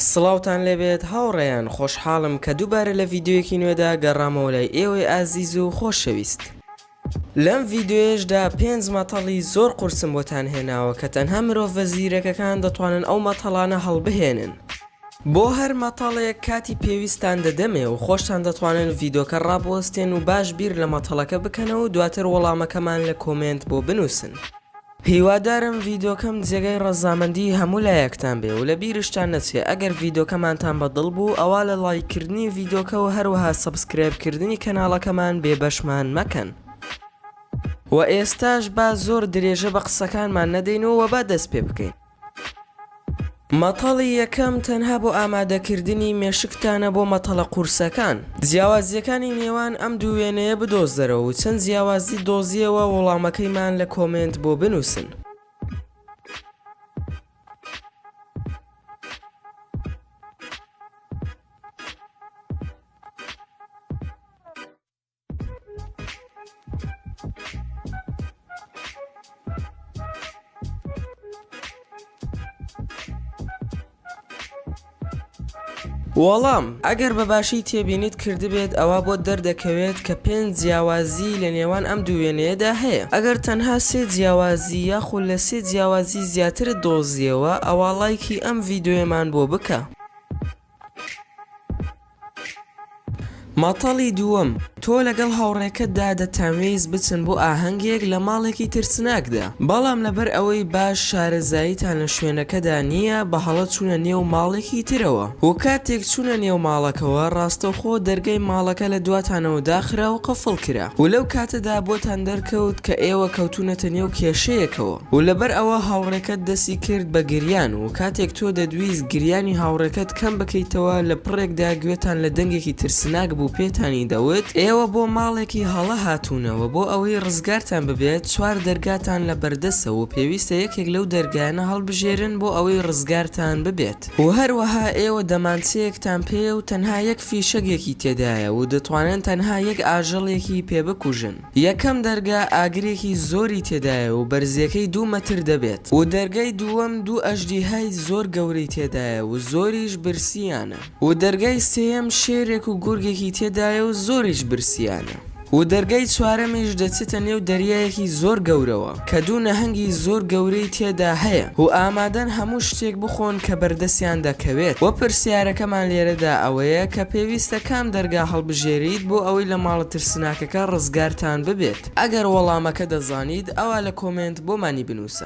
سڵاوتان لێبێت هاوڕێیان خۆشحاڵم کە دووبارە لە ڤیددیوەکی نوێدا گەڕامەوە لای ئێوەی ئازیز و خۆشەویست لەم ڤیددیوێشدا پێنج مەتەڵی زۆر قورسم بۆتان هێناوە کە تەنها مرۆڤە زیرەکەکان دەتوانن ئەو مەتەڵانە هەڵبهێنن. بۆ هەر مەتەڵێک کاتی پێویستتان دەدەمێ و خۆشتان دەتوانن ڤیدۆکە ڕابوەستێن و باش بیر لە مەتەڵەکە بکەنەوە و دواتر وەڵامەکەمان لە کۆمێنت بۆ بنووسن. هیوادارم ڤیدۆکەم جێگای ڕەزامەندی هەموو لایەکتان بێ و لە بیرشتان نەچێ ئەگەر ڤیدۆکەمانتان بە دڵ بوو ئەوا لە ڵایک کردنی ڤیدۆکە و هەروەها سەبسکرایب کردنی کەناڵەکەمان بێ بەشمان مەکەن و ئێستاش با زۆر درێژە بە قسەکانمان نەدەین و با دەست پێ بکەین. مەتەڵی یەکەم تەنها بۆ ئامادەکردنی مێشکتانە بۆ مەتەڵە قورسەکان. جیاوازییەکانی نێوان ئەم دوو وێنەیە بدۆزەرەوە و چەند جیاوازی دۆزییەوە وڵامەکەیمان لە کۆمێنت بۆ بنووسن. وەڵام، ئەگەر بە باشی تێبینیت کردبێت ئەوا بۆت دەردەکەوێت کە پێنج جیاوازیی لە نێوان ئەم دوو وێنەیەدا هەیە، ئەگەر تەنها سێ جیاوازی یاخود لە سێ جیاوازی زیاترت دۆزیەوە ئەوا ڵایکی ئەم ڤیدۆیەمان بۆ بکە. مەتەڵی دووەم، تۆ لەگەڵ هاوڕێکەتدا دەتانوێیست بچن بۆ ئاهەنگێک لە ماڵێکی ترسناکدا، بەڵام لەبەر ئەوەی باش شارەزاییتان لە شوێنەکەدا نییە بە هەڵە چوونە نێو ماڵێکی ترەوە و کاتێک چوونە نێو ماڵەکەوە ڕاستەوخۆ دەرگای ماڵەکە لە دواتانەوە داخرا و قفڵ کرا و لەو کاتەدا بۆتان دەرکەوت کە ئێوە کەوتوونەتە نێو کێشەیەکەوە. و لەبەر ئەوە هاوڕێکەت دەستی کرد بە گریان و کاتێک تۆ دەتویست گریانی هاوڕێکەت کەم بکەیتەوە لە پڕێکدا گوێتان لە دەنگێکی ترسناک بوو پێتانی دەوت ئێوە بۆ ماڵێکی هەڵە هاتوونەوە بۆ ئەوەی ڕزگارتان ببێت چوار دەرگاتان لە بەردەستە و پێویستە یەکێک لەو دەرگایانە هەڵبژێرن بۆ ئەوەی ڕزگارتان ببێت و هەروەها ئێوە دەمانچەیەکتان پێیە و تەنها یەک فیشەگێکی تێدایە و دەتوانن تەنها یەک ئاژەڵێکی پێ بکوژن. یەکەم دەرگا ئاگرێکی زۆری تێدایە و بەرزیەکەی دوو مەتر دەبێت و دەرگای دووەم دوو ئەژدیهای زۆر گەورەی تێدایە و زۆریش برسیانە و دەرگای سێیەم شێرێک و گورگێکی تێدایە و زۆریش برسیانە و دەرگای چوارەمیش دەچێتە نێو دەریایەکی زۆر گەورەوە. کە دوو نەهەنگی زۆر گەورەی تێدا هەیە و ئامادەن هەموو شتێک بخۆن کە بەردەستیان دەکەوێت، وە پرسیارەکەمان لێرەدا ئەوەیە کە پێویستە کام دەرگا هەڵبژێریت بۆ ئەوەی لە ماڵە ترسناکەکە ڕزگارتان ببێت؟ ئەگەر وەڵامەکە دەزانیت ئەوا لە کۆمێنت بۆمانی بنووسە.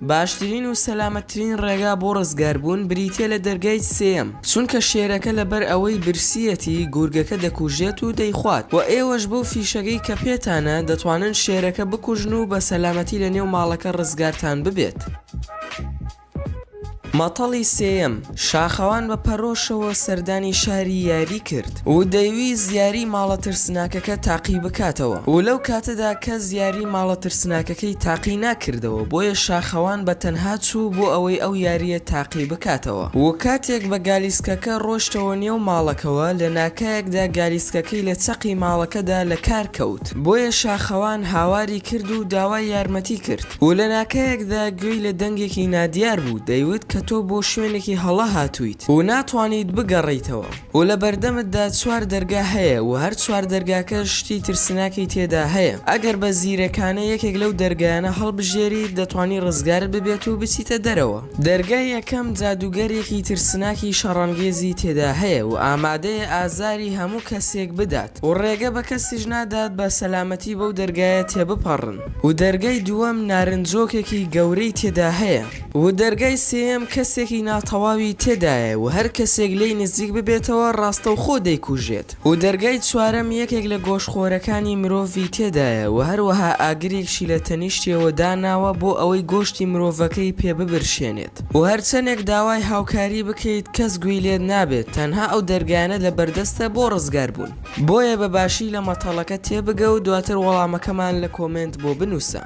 باشترین و سەلامەتترین ڕێگا بۆ ڕزگاربوون بریتییە لە دەرگای سێیەم، چونکە شێرەکە لەبەر ئەوەی برسییەتی گورگەکە دەکوژێت و دەیخوات، وە ئێوەش بەو فیشەکەی کە پێتانە دەتوانن شێرەکە بکوژن و بە سەلامەتی لە نێو ماڵەکە ڕزگارتان ببێت. مەتەڵی سێیەم، شاخەوان بە پەرۆشەوە سەردانی شاری یاری کرد و دەیویست یاری ماڵە ترسناکەکە تاقی بکاتەوە و لەو کاتەدا کەس یاری ماڵە ترسناکەکەی تاقی ناکردەوە بۆیە شاخەوان بە تەنها چوو بۆ ئەوەی ئەو یارییە تاقی بکاتەوە و کاتێک بە گالیسکەکە ڕۆشتەوە نێو ماڵەکەوە لە ناکایەکدا گالیسکەکەی لە چەقی ماڵەکەدا لە کار کەوت. دەکرد. بۆیە شاخەوان هاواری کرد و داوای یارمەتی کرد و لە ناکایەکدا گوێی لە دەنگێکی نادیار بوو دەیوت کە تۆ بۆ شوێنێکی هەڵە هاتوویت و ناتوانیت بگەڕێیتەوە و لە بەردەمتدا چوار دەرگا هەیە و هەر چوار دەرگاکەش شتی ترسناکی تێدا هەیە ئەگەر بە زیرەکانە یەکێک لەو دەرگایانە هەڵبژێریت دەتوانی ڕزگارت ببێت و بچیتە دەرەوە. دەرگای یەکەم جادووگەرێکی ترسناکی شەڕانگێزی تێدا هەیە و ئامادەیە ئازاری هەموو کەسێک بدات، و ڕێگە بە کەسیش نادات بە سەلامەتی بەو دەرگایە تێبپەڕن و دەرگای دووەم نارنجۆکێکی گەورەی تێدا هەیە و دەرگای سێیەم کەسێکی ناتەواوی تێدایە و هەر کەسێک لێی نزیک ببێتەوە ڕاستەوخۆ دەیکوژێت و دەرگای چوارەم یەکێک لە گۆشتخۆرەکانی مرۆڤی تێدایە و هەروەها ئاگرێکشی لە تەنیشتیەوە داناوە بۆ ئەوەی گۆشتی مرۆڤەکەی پێ ببرشێنێت. و هەرچەنێک داوای هاوکاری بکەیت کەس گوێی لێت نابێت، تەنها ئەو دەرگایانە لەبەردەستە بۆ ڕزگاربوون. بۆیە بە باشی لە مەتەڵەکە تێبگە و دواتر وەڵامەکەمان لە کۆمێنت بۆ بنووسە.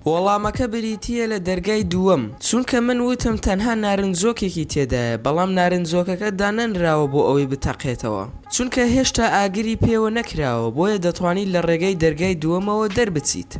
وەڵامەکە بریتییە لە دەرگای دووەم، چونکە من وتم تەنها نارنجۆکێکی تێدایە، بەڵام نارنجۆکەکە دانەنراوە بۆ ئەوەی بتەقێتەوە، چونکە هێشتا ئاگری پێوە نەکراوە، بۆیە دەتوانیت لە ڕێگەی دەرگای دووەمەوە دەربچیت.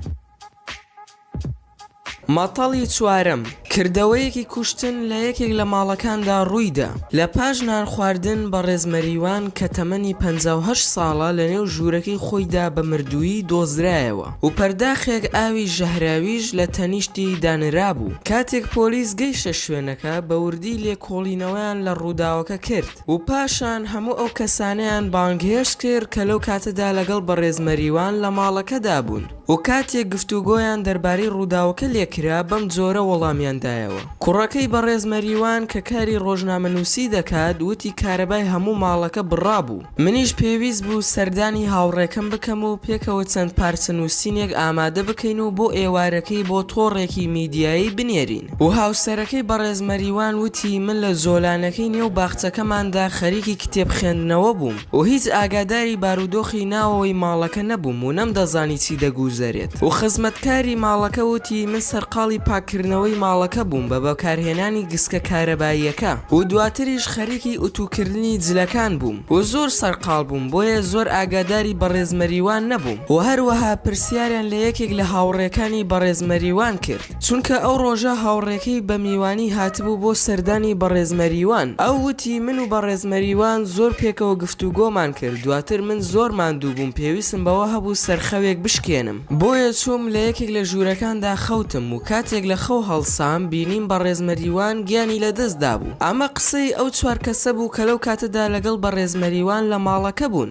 مەتەڵی چوارەم، کردەوەیەکی کوشتن لە یەکێک لە ماڵەکاندا ڕوویدا، لە پاش نان خواردن بەڕێز مەریوان کە تەمەنی پەنجا و هەشت ساڵە لە نێو ژوورەکەی خۆیدا بە مردوویی دۆزرایەوە و پەرداخێک ئاوی ژەهراویش لە تەنیشتی دانرابوو، کاتێک پۆلیس گەیشتە شوێنەکە بە وردی لێکۆڵینەوەیان لە ڕووداوەکە کرد. دەکرد. و پاشان هەموو ئەو کەسانەیان بانگهێشت کرد کە لەو کاتەدا لەگەڵ بەڕێز مەریوان لە ماڵەکەدا بوون و کاتێک گفتوگۆیان دەربارەی ڕووداوەکە لێ کرا بەم جۆرە وەڵامیان دایەوە. کوڕەکەی بەڕێز مەریوان کە کاری ڕۆژنامەنووسی دەکات وتی کارەبای هەموو ماڵەکە بڕابوو، منیش پێویست بوو سەردانی هاوڕێکەم بکەم و پێکەوە چەند پارچە نووسینێک ئامادە بکەین و بۆ ئێوارەکەی بۆ تۆڕێکی میدیایی بنێرین. و هاوسەرەکەی بەڕێز مەریوان وتی، من لە جۆلانەکەی نێو باخچەکەماندا خەریکی کتێب خوێندنەوە بووم و هیچ ئاگاداری بارودۆخی ناوەوەی ماڵەکە نەبووم و نەمدەزانی چی دەگووزەرێت و خزمەتکاری ماڵەکە وتی، من سەرقاڵی پاککردنەوەی ماڵەکە بووم بە بەکارهێنانی گسکە کارەباییەکە و دواتریش خەریکی ئوتووکردنی جلەکان بووم و زۆر سەرقاڵ بووم بۆیە زۆر ئاگاداری بەڕێز مەریوان نەبووم و هەروەها پرسیاریان لە یەکێک لە هاوڕێکانی بەڕێز مەریوان کرد چونکە ئەو ڕۆژە هاوڕێکەی بە میوانی هاتبوو بۆ سەردانی بەڕێز مەریوان، ئەو وتی من و بەڕێز مەریوان زۆر پێکەوە گفتوگۆمان کرد، دواتر من زۆر ماندوو بووم پێویستم بەوە هەبوو سەرخەوێک بشکێنم، بۆیە چووم لە یەکێک لە ژوورەکاندا خەوتم و کاتێک لە خەو هەڵسام بینیم بەڕێز مەریوان گیانی لەدەست دابوو، ئەمە قسەی ئەو چوار کەسە بوو کە لەو کاتەدا لەگەڵ بەڕێز مەریوان لە ماڵەکە بوون.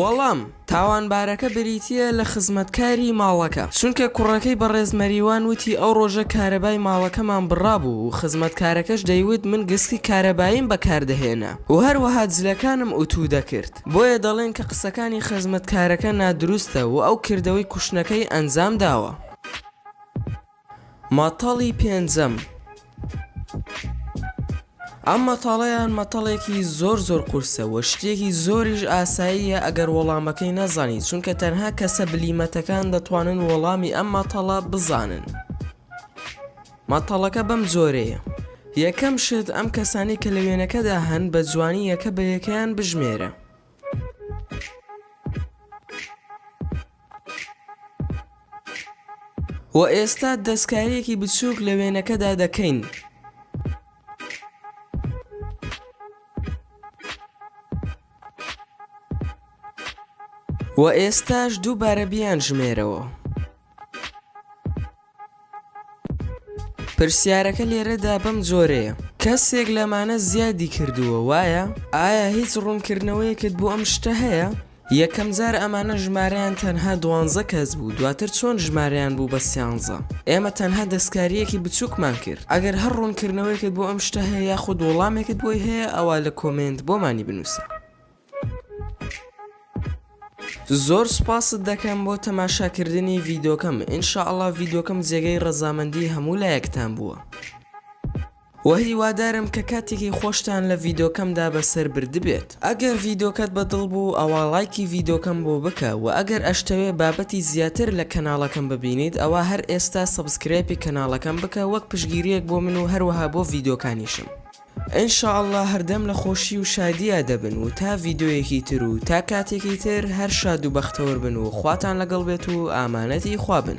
وەڵام، تاوانبارەکە بریتییە لە خزمەتکاری ماڵەکە، چونکە کوڕەکەی بەڕێز مەریوان وتی ئەو ڕۆژە کارەبای ماڵەکەمان بڕابوو و خزمەتکارەکەش دەیوت من گسکی کارەباییم بەکاردەهێنا و هەروەها جلەکانم ئوتوو دەکرد، بۆیە دەڵێن کە قسەکانی خزمەتکارەکە نادروستە و ئەو کردەوەی کوشتنەکەی ئەنجامداوە. مەتەڵی پێنجەم، ئەم مەتەڵەیان مەتەڵێکی زۆر زۆر قورسە وە شتێکی زۆریش ئاساییە ئەگەر وەڵامەکەی نەزانی چونکە تەنها کەسە بلیمەتەکان دەتوانن وەڵامی ئەم مەتەڵە بزانن مەتەڵەکە بەم جۆرەیە یەکەم شت ئەم کەسانەی کە لە وێنەکەدا هەن بە جوانی یەکە بە یەکەیان بژمێرە. وە ئێستا دەستکاریەکی بچوک لە وێنەکەدا دەکەین. وە ئێستاش دووبارە بیانژمێرەوە. پرسیارەکە لێرەدا بەم جۆرەیە، کەسێک لەمانە زیادی کردووە وایە؟ ئایا هیچ ڕوونکردنەوەیەکت بۆ ئەم شتە هەیە؟ یەکەم جار ئەمانە ژمارەیان تەنها دوانزە کەس بوو دواتر چۆن ژمارەیان بوو بە سیانزە؟ ئێمە تەنها دەستکارییەکی بچووکمان کرد. ئەگەر هەر ڕوونکردنەوەیەکت بۆ ئەم شتە هەیە یاخود وەڵامێکت بۆی هەیە ئەوا لە کۆمێنت بۆمانی بنووسە. زۆر سوپاست دەکەم بۆ تەماشاکردنی ڤیدۆکەم ان شاء اللە ڤیدۆکەم جێگەی ڕەزامەندی هەموو لایەکتان بووە وە هیوادارم کە کاتێکی خۆشتان لە ڤیدۆکەمدا بەسەر بردبێت ئەگەر ڤیدۆکەت بە دڵ بوو ئەوا ڵایکی ڤیدۆکەم بۆ بکە وە ئەگەر ئەشتەوێ بابەتی زیاتر لە کەناڵەکەم ببینیت ئەوا هەر ئێستا سەبسکرایپی کەناڵەکەم بکە وەک پشگیریەک بۆ من و هەروەها بۆ ڤیدۆکانیشم. ان شاء اللە هەردەم لە خۆشی و شادیا دەبن و تا ڤیدۆیەکی تر و تا کاتێکی تر هەر شاد و بەختەوەر بن و خواتان لەگەڵ بێت و ئامانەتی خوا بن.